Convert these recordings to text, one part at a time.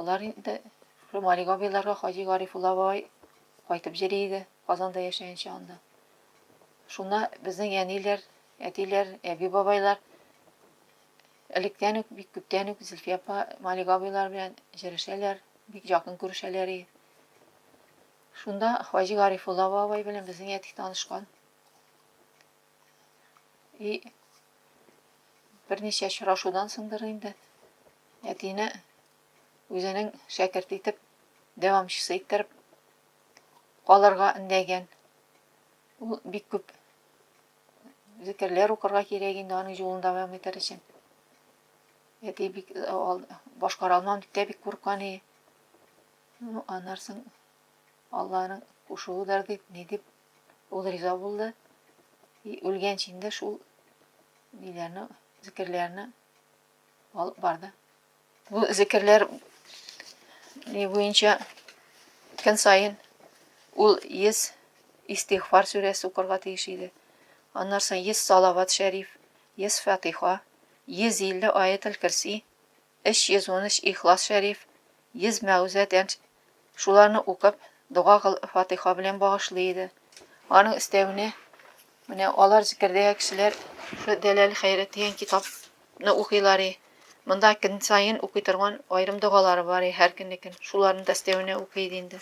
Алар инде Шомали Габиларга Хаҗи Гарифулла бабай кайтып җыри иде, Казанда яшәенчә анда. Шуна безнең әниләр, әтиләр, әби бабайлар электән үк, бик күптән үк Зилфия апа Малик абыйлар белән җырешәләр, бик якын күрешәләр иде. Шунда Хаҗи Гарифулла бабай белән безнең әти танышкан. И берничә очрашудан соңдыр инде әтине үзенең шәкерт итеп, дәвамчысы иттереп калырга өндәгән. Ул бик күп зикерләр укырга кирәк инде аның юлын дәвам итәр өчен. Әти бик башкара алмам дип тә бик курккан иде. Ну, аннарсын Алланың кушуыдыр дип, ни дип Ул риза булды. И үлгәнче инде шул ниләрне, зикерләрне алып барды. Бу зикерләр ни буенча көн саен ул 100 истигъфар сүрәсе укырга тиеш иде. Аннан соң 100 салават шәриф, 100 фатиха, 150 аятел кирси 313 Ихлас Шәриф, 100 Мәгүзә Тәнҗ, шуларны укып, дога кыл, Фатыйха белән багышлый иде. Аның өстәвенә, менә алар зикердәге кешеләр шу Дәләл хәйрәт дигән китапны укыйлар и. Монда көн саен укый торган аерым догалары бар и, һәр көннекен. Шуларны да өстәвенә укый иде инде.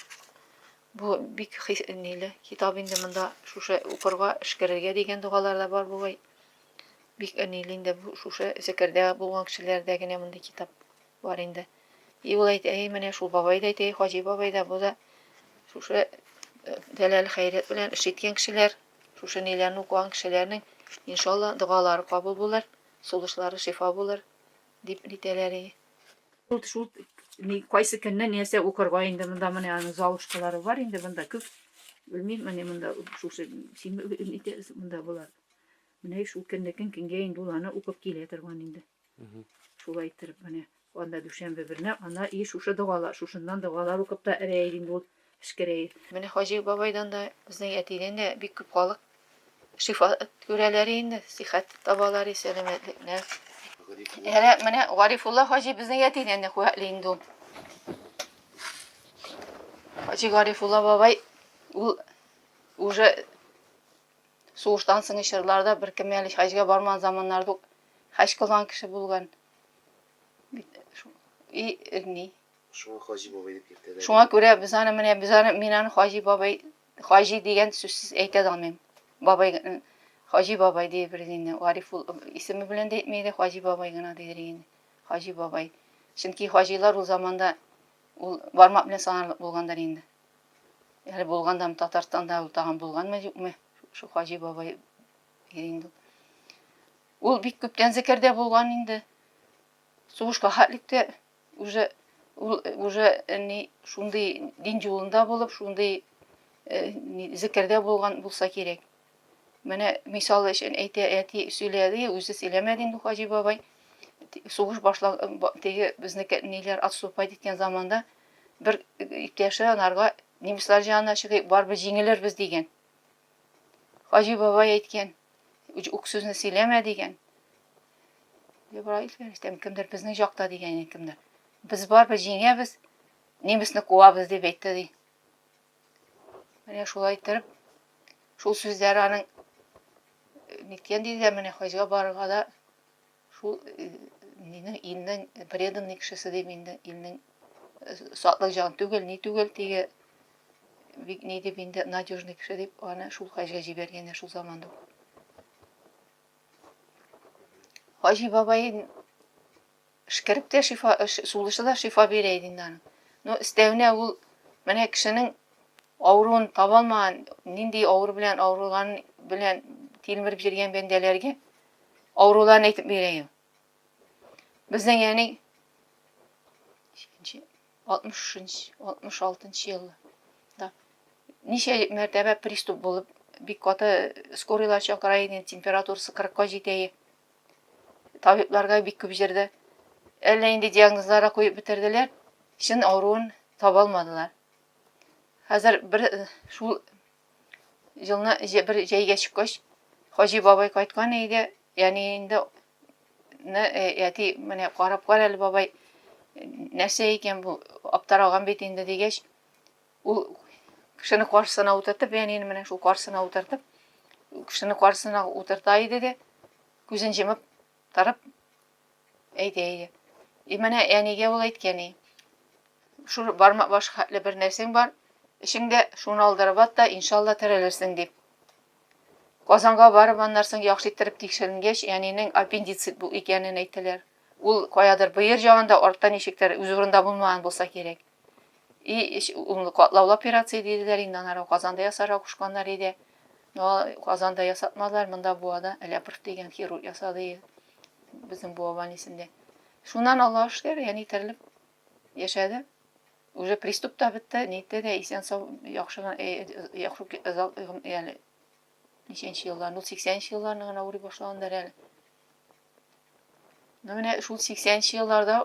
Бу бик хис, ниле, китап инде монда шушы укырга, эшкәрергә дигән догалар да бар бугай. Бик әниле инде бу шушы Зәкәрдә булган кешеләрдә генә мондый китап бар инде. И ул әйтә, и менә шул бабай да әйтә, и Хаҗи бабай да, бу да шушы Дәләл э, хәйрәт белән эш иткән кешеләр, шушы ниләрне укыган кешеләрнең иншалла догалары кабул булыр, сулышлары шифа булыр дип нитәләр. Шул шул кайсы көнне нәрсә укырга инде монда менә аның залышкалары бар инде монда күп. Белмим, менә монда шушы син монда булар. Менә еш үткәннекен кенгә инде ул аны укып килә торган инде. Шулай иттереп менә анда дүшәмбе берне ана и шушы догала, шушыннан догалар укып та эрәер инде ул эшкерәер. Менә Хаҗи бабайдан да, безнең әтидән дә бик күп халык шифа күрәләр инде, сихәт табалар, сәламәтлекне. Әнә менә Гарифулла хаҗи безнең әтидән дә куәтле инде ул. Хаҗи Гарифулла бабай ул уже Сугыштан соңгы чорларда беркем әле хаҗга бармаган заманнарда ук хаҗ кылган кеше булган. И, ни? Шуңа Хаҗи бабай дип йөртәләр. Шуңа күрә без аны менә без аны мин аны Хаҗи бабай Хаҗи дигән сүзсез әйтә дә алмыйм. Бабай Хаҗи бабай диеп инде Гариф ул исеме белән дә әйтмәде, Хаҗи бабай гына дидер инде. Хаҗи бабай. Чөнки хаҗилар ул заманда ул бармак белән санарлык булгандыр инде. Әле булгандам Татарстанда ул тагын булганмы юкмы? Шул Хаҗи бабай инде. Ул бик күптән зәкәрдә булган инде. Сугышка хәтлектә уже ул уже ни шундый дин юлында булып, шундый зәкәрдә булган булса кирәк. Менә мисал өчен әйтә, әти сөйләде, үзе сөйләмәде инде Хаҗи бабай. Сугыш башлаг теге безнеке ниләр отступать иткән заманда бер ике яшьләр анарга немецлар җанына чыгыйк барыбер җиңелербез дигән хаҗи бабай әйткән үк сүзне сөйләмә дигән ибраил фәрештәм кемдер безнең җакта дигән кемдер без барыбер җиңәбез немецны куабыз дип әйтте ди менә шулай иттереп шул сүзләр аның ниткән диде менә хаҗга барырга да Шул минең илнең преданный кешесе дип инде илнең сатлык җан түгел, ни түгел теге бик ни дип инде надежный кеше дип аны шул хаҗга җибәргәннәр шул заманда ук. Хаҗи бабай эшкәреп тә шифа, сулышы да шифа бирә иде инде аның. Ну, өстәвенә ул менә кешенең авыруын таба алмаган, нинди авыру белән авырылган белән тилмереп йөргән бәндәләргә Авыруларын әйтеп бирәйем. Безнең яни 60-66 еллы. Да. Ничә мәртәбә приступ булып, бик каты скорыйлар чакыра иде, температурасы 40-ка җитә. Табибларга бик күп җирдә әллә инде диагнозлары куеп бетерделәр, чын авыруын таба алмадылар. Хәзер бер шул елны бер җәйгә чыккач хаҗи бабай кайткан өйгә яни инде әти менә карап кар әле бабай нәрсә икән бу аптыраган бит инде дигәч ул кешене каршысына утыртып әнине менә шул каршысына утыртып кешене каршысына утырта иде дә күзен җымып Торып, әйди, әйди. И менә әнигә ул әйткән и. Шул бармак баш хәтле бер нәрсәң бар, эшеңдә шуны алдырып ат та, иншалла терелерсең дип. Казанга барып, аннан соң яхшы иттереп тикшеренгәч, әнинең аппендицит бу икәнен әйттеләр. Ул каядыр быер җагында, артта ничектер, үз урында булмаган булса кирәк. И эч унлы катлаулы операция диделәр инде, аннары ук Казанда ясарга кушканнар иде. Но Казанда ясатмадылар, монда Буада Әләпрт дигән хирург ясады безнең Буа больницында. Шуннан Аллаһ шөкер, яни терелеп яшәде. Уже приступ та бетте, нитте дә исән сау яхшы гына э, яхшы яли. Ничәнче еллар, ну 80нче елларны гына ури башлагандар әле. Ну менә шул 80нче елларда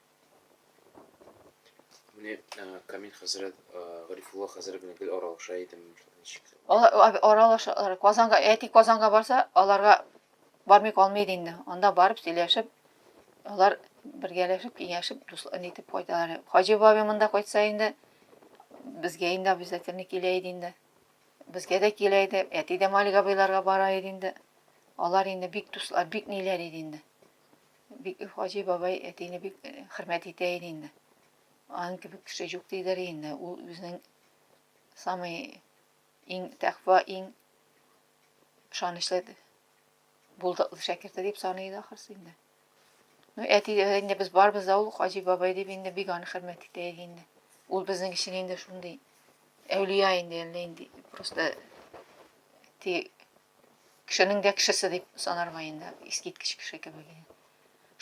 Менә Камил хәзрәт, Гарифулла хәзрәт белән гел аралаша идем. Алар аралаша, Казанга, әти Казанга барса, аларга бармый калмый иде инде. Анда барып сөйләшеп, алар бергәләшеп, киңәшеп, дуслар нитеп кайталар. Хаҗи бабай монда кайтса инде, безгә инде обязательно килә иде инде. Безгә дә килә иде, әти дә Малик абыйларга бара иде инде. Алар инде бик дуслар, бик ниләр иде инде. Бик хаҗи бабай әтине бик хөрмәт итә иде инде. Аның кебек кеше юк диләр инде. Ул безнең самый иң тәкъва, иң ышанычлы булдыклы шәкерте дип саный иде ахрысы инде. Ну, әти инде без барбыз да ул хаҗи бабай дип инде бик аны хөрмәт итә иде инде. Ул безнең өчен инде шундый әүлия инде, әллә инде просто ти Кешенең дә кешесе дип санарга инде, искиткеч кеше кебек иде.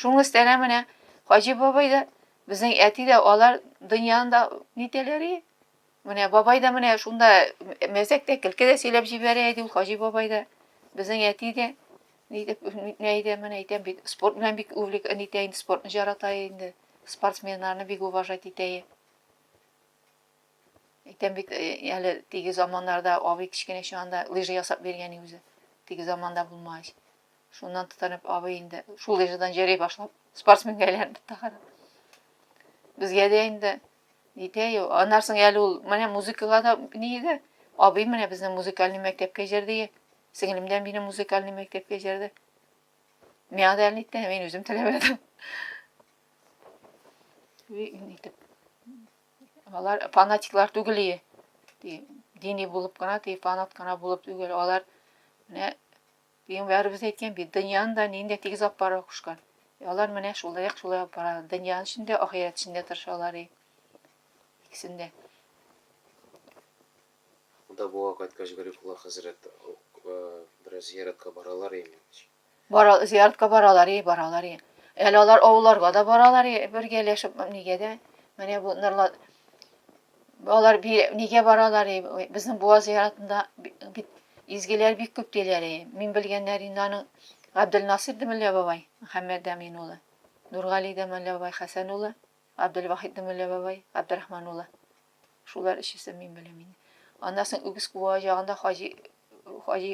Шуның өстенә менә Хаҗи бабай да, безнең әти дә алар дөньяны да нитәләр и? Менә бабай да менә шунда мәзәк тә, көлке дә сөйләп җибәрә иде ул Хаҗи бабай да, безнең әти дә. Ни дип нитмә иде, менә әйтәм бит, спорт белән бик увлек нитә инде, спортны жарата инде, спортсменнарны бик уважать итә. Әйтәм бит, әле теге заманнарда абый кечкенә чагында лыжа ясап биргән үзе. Теге заманда булмагач. Шуннан тотынып абый инде шул лыжадан җәри башлап, спортсменга әйләнде тагын. Безгә дә инде җитә ю. Аннан соң әле ул менә музыкага да ни иде. Абый менә безне музыкальный мәктәпкә җәрдеге. Сеңлем дә мине музыкальный мәктәпкә җәрде. Миңа да әле мин үзем теләмәдем. Итеп Алар фанатиклар түгел и. Ди, дини булып кына, ди, фанат кына булып түгел. Алар менә Пәйгамбәребез әйткән бит, дөньяны да нинди тигез алып бара кушкан. И алар менә шулай ук шулай алып бара. Дөньяның эчендә, ахирәт эчендә тырышалар и. Икесендә. Монда буа кайткач Гарифулла хәзрәт бераз зияратка баралар имеш. Бара, зияртка баралар, и, баралар, и. Әле алар авылларга да баралар, и, бергәләшеп, нигә дә. Менә бу нырлар алар нигә баралар, и, безнең буа зияртында бит изгеләр бик күп диләр, и. Мин белгәннәр инде аның Габделнасир Демеллә бабай, Мөхәммәд Дәмин улы, Нургали Демеллә бабай, Хәсән улы, Габделвахид Демеллә бабай, Габдерахман улы. Шулар өчесе мин беләм инде. Аннан соң Үгез куа ягында Хаҗи Хаҗи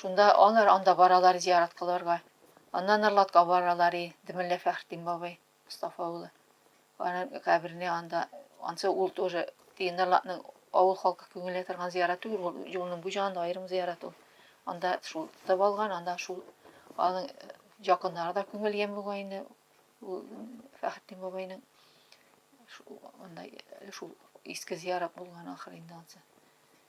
Шунда алар анда баралар зиярат кылырга. Аннан Норлатка баралар, и, ди мөллә Фәхретдин бабай, Мостафа улы. Аның каберене анда, ансы ул тоже, теге Норлатның авыл халкы күңеленә торган зиярат түгел, ул юлның бу җагында аерым зиярат ул. Анда шул тотып алган, анда шул аның якыннары да күңелгән бугай инде, ул Фәхретдин бабайның шу- анда шул иске зиярат булган ахыр инде ансы.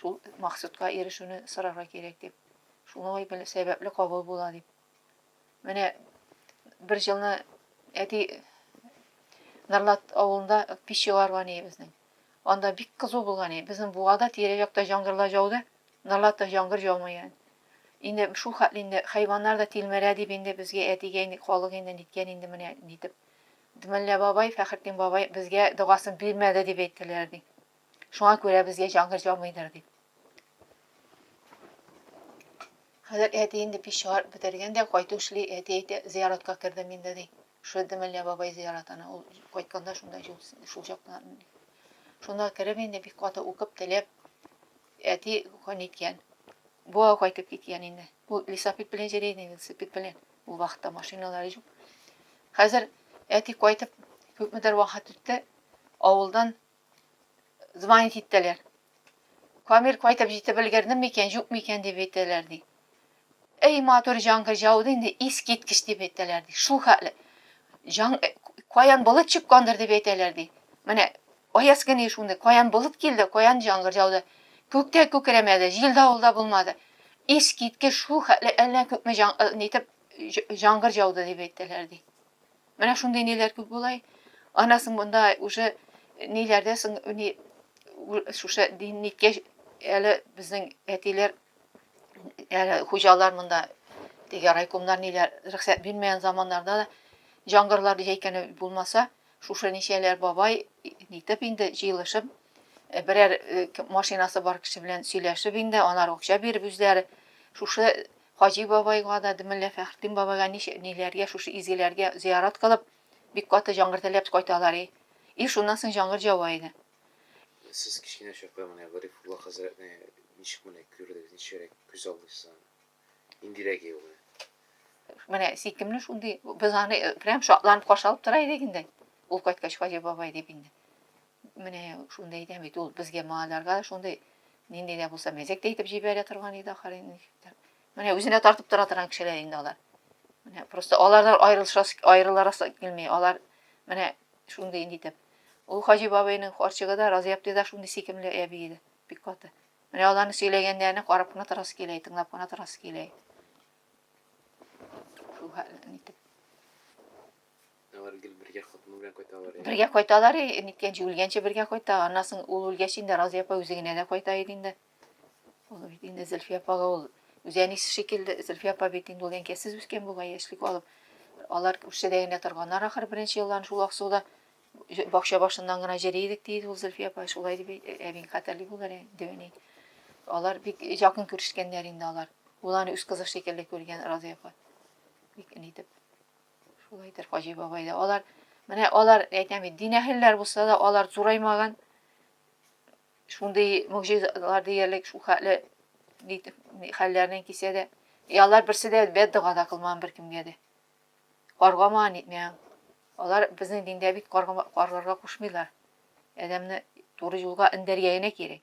Шул максатка ирешүне сорарга кирәк дип. Шулай бел, сәбәпле кабул була дип. Менә бер җылны әти Нарлат авылында пич чыгарган иде безнең. Анда бик кызу булган иде. Безнең буада тирә-якта җаңгырлар жауды, Нарлатта җаңгыр җаумый аны. Инде шул хәтле инде хайваннар да тилмерә дип инде безгә әтигә инде халык инде ниткән инде менә нитеп. Дмәллә бабай, Фәхретдин бабай безгә догасын бирмәде дип әйттеләр ди. Шуңа күрә безгә җангыр җамыйдыр дип. Хәзер әти инде пич чыгарып бетергән дә кайту эшли, әти әйтә, зыяратка кердем инде ди. Шуды Мәллә бабай зыяратына, ул кайтканда шунда шул, шул чакта. Шунда кереп инде бик каты укып, теләп, әти көн иткән. Буа кайтып киткән инде. Ул лесопед белән җәләй инде, лесопед белән. Ул вакытта машиналары юк. Хәзер әти кайтып, күпмедер вакыт үтте, авылдан звонить иттеләр. Камил кайтып җитеп өлгердеме икән, юкмы икән дип әйтәләр, ди. Эй, матур җаңгыр җауды инде, искиткеч дип әйтәләр, ди. Шул хәтле. Җаң, э, каян болыт чыккандыр дип әйтәләр, ди. Менә аяз көне шундый, каян болыт килде, каян җаңгыр җауды. Күктә күкрәмәде, җил давылда булмады. Искиткеч шул хәтле әллә күпме җан, э, нитеп җ- җаңгыр җауды дип әйтәләр, ди. Менә шундый ниләр күп була. Ана соң монда уже ниләрдә соң ни шушы дин ниткәч әле безнең әтиләр әле хуҗалар монда теге райкомнар ниләр рөхсәт бирмәгән заманнарда да җангырлар җәйкәне булмаса, шушы ничәләр бабай нитеп инде җыелышып Э, берәр э, машинасы бар кеше белән сөйләшеп инде, алар акча биреп үзләре шушы Хаҗи бабайга да, Мөллә Фәхретдин бабайга ничә, ниләргә, шушы изгеләргә зыярат кылып, бик каты җаңгыр теләп кайталар и. И шуннан соң җаңгыр җава иде. Сез кечкенә чакта менә Гарифулла хәзрәтне ничек менә күрдегез, ничегрәк күз алдыгыз аны? Ниндирәк иде ул менә? Менә сөйкемле шундый, без аны прям шатланып каршы алып тора идек инде. Ул кайткач, Хаҗи бабай дип инде. Менә шуны да әйтәм бит, ул безгә малайларга шундый нинди дә булса мәзәк тә итеп җибәрә торган иде ахыры. Менә үзенә тартып тора торган кешеләр инде алар. Менә просто алардан аерылышасы аерыларасы килми. Алар менә шундый инде итеп. Ул Хаҗи бабайның карчыгы да Разый абты да шундый сикемле әби иде. Бик каты. Менә аларны сөйләгәннәрне карап кына торасы килә, тыңлап кына торасы килә. Шул хәлне итеп. Алар гел бергә хатыны белән кайталар. Э? Бергә кайталар, э, ниткәнче үлгәнче бергә кайта. Аннан соң ул үлгәч инде Разия апа үзе генә дә кайта иде инде. Ул бит инде Зөлфия апага ул үзе әнисе шикелле, Зөлфия апа бит инде ул әнкәсез үскән бугай яшьлек алып. Алар күршедә генә торганнар ахыр беренче елларын шул Аксуда бакча башыннан гына җыри идек диде ул Зөлфия апа. Шулай дип э, әбиң хәтерли булыр инде әни. Алар бик якын күрешкәннәр инде алар. Ул аны үз кызы шикелле күргән Разия апа. Бик нитеп. Шулайдыр, Хаҗи бабай да. Алар, менә алар, әйтәм бит, дин әһелләр булса да, алар зураймаган. Шундый мөгъҗизалар диярлек, шул хәтле хәлләреннән кисә дә. И алар берсе дә бәддога да кылмаган беркемгә дә. Каргамаган итмәгән. Алар безнең диндә бит каргарга кушмыйлар. Адәмне туры юлга эндәргә генә кирәк.